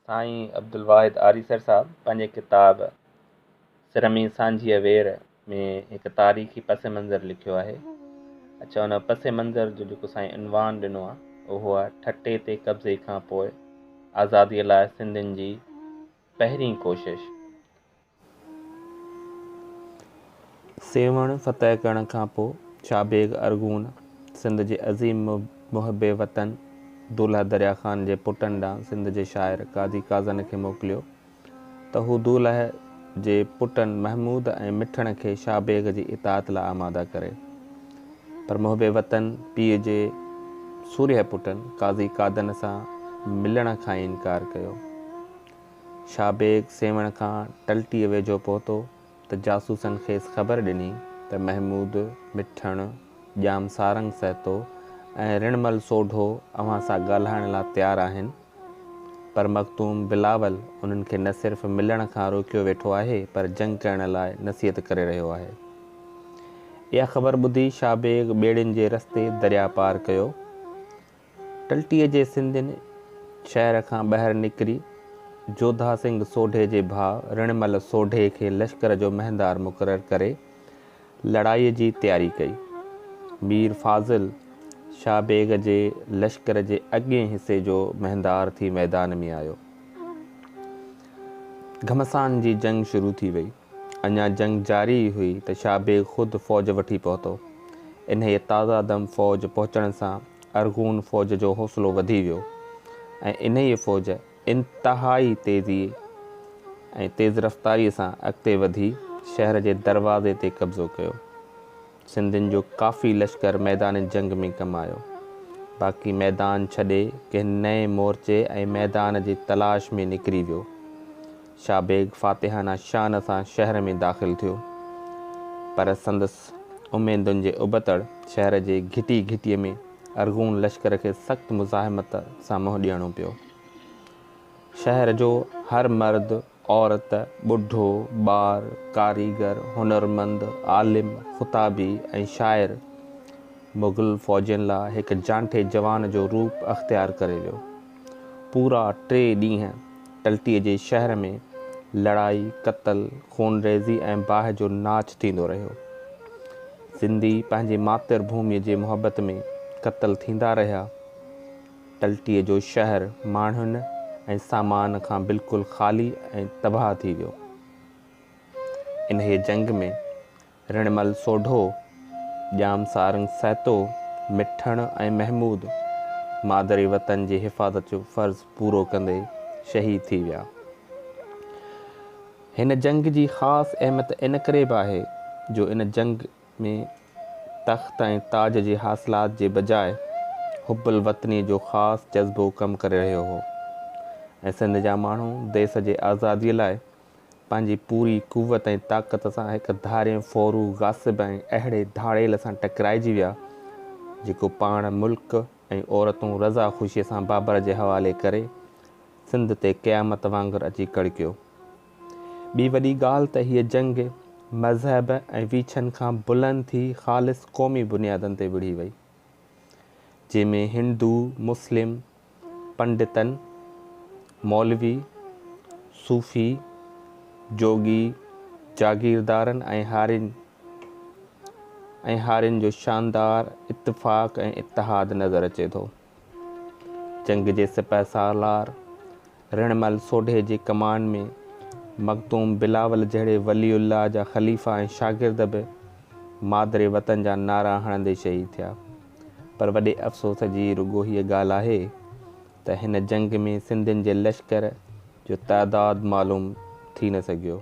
سائين عبدالواحد آريسر صاحب پنهنجي ڪتاب سرمي سانجهيء وير ۾ هڪ تاريخي پس منظر لکيو آهي. اڇا ان پس منظر جو جيڪو سائين عنوان ڏنو آهي اهو آهي ٺٽي تي قبضي کان پوء آزاديء لاء سنڌين جي پهرين ڪوشش. سيوهڻ فتح ڪرڻ کان پوء شاهه بيگ ارغون سنڌ جي عظيم محب وطن دولهه دريا خان جي پٽن ڏانهن سنڌ جي شاعر قاضي قازن کي موڪليو ته هو دولهه جي پٽن محمود ۽ مٺڻ کي شاهه بيگ جي اطاعت لاء آماده ڪري پر محب وطن پيء جي سورهيه پٽن قاضي قادن سان ملڻ کان ئي انڪار ڪيو. شاهه بيگ سيوهڻ کان ٽلٽيء ويجهو پهتو ته جاسوسن کيس خبر ڏني ته محمود مٺڻ ڄام سارنگ سهتو ۽ رڻمل سوڍو اوهان سان ڳالهائڻ لا تيار آهن پر مخدوم بلاول انهن کي نه صرف ملڻ کان روڪيو ويٺو آهي پر جنگ ڪرڻ لاء نصيحت ڪري رهيو آهي. اها خبر ٻڌي شاهه بيگ ٻيڙين جي رستي درياء پار ڪيو ٽلٽيء جي سنڌين شهر کان ٻاهر نڪري جوڌا سنگهه سوڍي جي ڀاء رڻمل سوڍي کي لشڪر جو مهندار مقرر ڪري لڙائيء جي تياري ڪئي. مير فاضل شاهه بيگ جي لشڪر جي اڳئين حصي جو مهندار ٿي ميدان ۾ آيو. گهمسان جي جنگ شروع ٿي وئي. اڃا جنگ جاري ئي هئي ته شاهه بيگ خود فوج وٺي پهتو. انهيء تازه دم فوج پهچڻ سان ارغون فوج جو حوصلو وڌي ويو ۽ انهيء فوج انتهائي تيزيء ۽ تيز رفتاريء سان اڳتي وڌي شهر جي دروازي تي قبضو ڪيو. سنڌين جو ڪافي لشڪر ميدان جنگ ۾ ڪم آيو، باقي ميدان ڇڏي ڪنھن نئين مورچي ۽ ميدان جي تلاش ۾ نڪري ويو. شاھ بيگ فاتحانه شان سان شهر ۾ داخل ٿيو، پر سندس اميدن جي ابتڙ شهر جي گھٽي گھٽي ۾ ارغون لشڪر کي سخت مزاحمت سان منھن ڏيڻو پيو. شهر جو هر مرد عورت، ٻڍو، ٻار، ڪاريگر، هنرمند، عالم، خطابي ۽ شاعر مغل فوجين لا هڪ جانٺي جوان جو روپ اختيار ڪري ويو. پورا ٽي ڏينهن ٽلٽيء جي شهر ۾ لڙائي، قتل، خونريزي ۽ باهه جو ناچ ٿيندو رهيو. سنڌي پنهنجي ماتر ڀوميء جي محبت ۾ قتل ٿيندا رهيا. ٽلٽيء جو شهر ماڻهن ۽ سامان کان بلڪل خالي ۽ تباهه ٿي ويو. انهيء جنگ ۾ رڻمل سوڍو، ڄام سارنگ سهتو، مٺڻ ۽ محمود مادري وطن جي حفاظت جو فرض پورو ڪندي شهيد ٿي ويا. هن جنگ جي خاص اهميت ان ڪري به آهي جو ان جنگ ۾ تخت ۽ تاج جي حاصلات جي بجاء حب الوطني جو خاص جذبو ڪم ڪري رهيو هو ۽ سنڌ جا ماڻهو ديس جي آزادي لاء پنهنجي پوري قوت ۽ طاقت سان هڪ ڌارئين ڦورو غاصب ۽ اهڙي ڌاڙيل سان ٽڪرائجي ويا جيڪو پاڻ ملڪ ۽ عورتون رضا خوشي سان بابر جي حوالي ڪري سنڌ تي قيامت وانگر اچي ڪڙڪيو. ٻي وڏي ڳالهه ته هيء جنگ مذهب ۽ ويڇن کان بلند ٿي خالص قومي بنيادن تي وڙهي وئي، جنهن ۾ هندو، مسلم، پنڊتن، مولوي، صوفي، جوڳي، جاگيردارن ۽ هارين ۽ هارين جو شاندار اتفاق ۽ اتحاد نظر اچي ٿو. جنگ جي سپهه سالار رڻمل سوڍي جي ڪمان ۾ مخدوم بلاول جهڙي ولي الله جا خليفا ۽ شاگرد به مادري وطن جا نعرا هڻندي شهيد ٿيا پر وڏي افسوس جي رڳو هيء ڳالهه آهي ته هن جنگ ۾ سنڌين جي لشڪر جو تعداد معلوم ٿي نه سگهيو.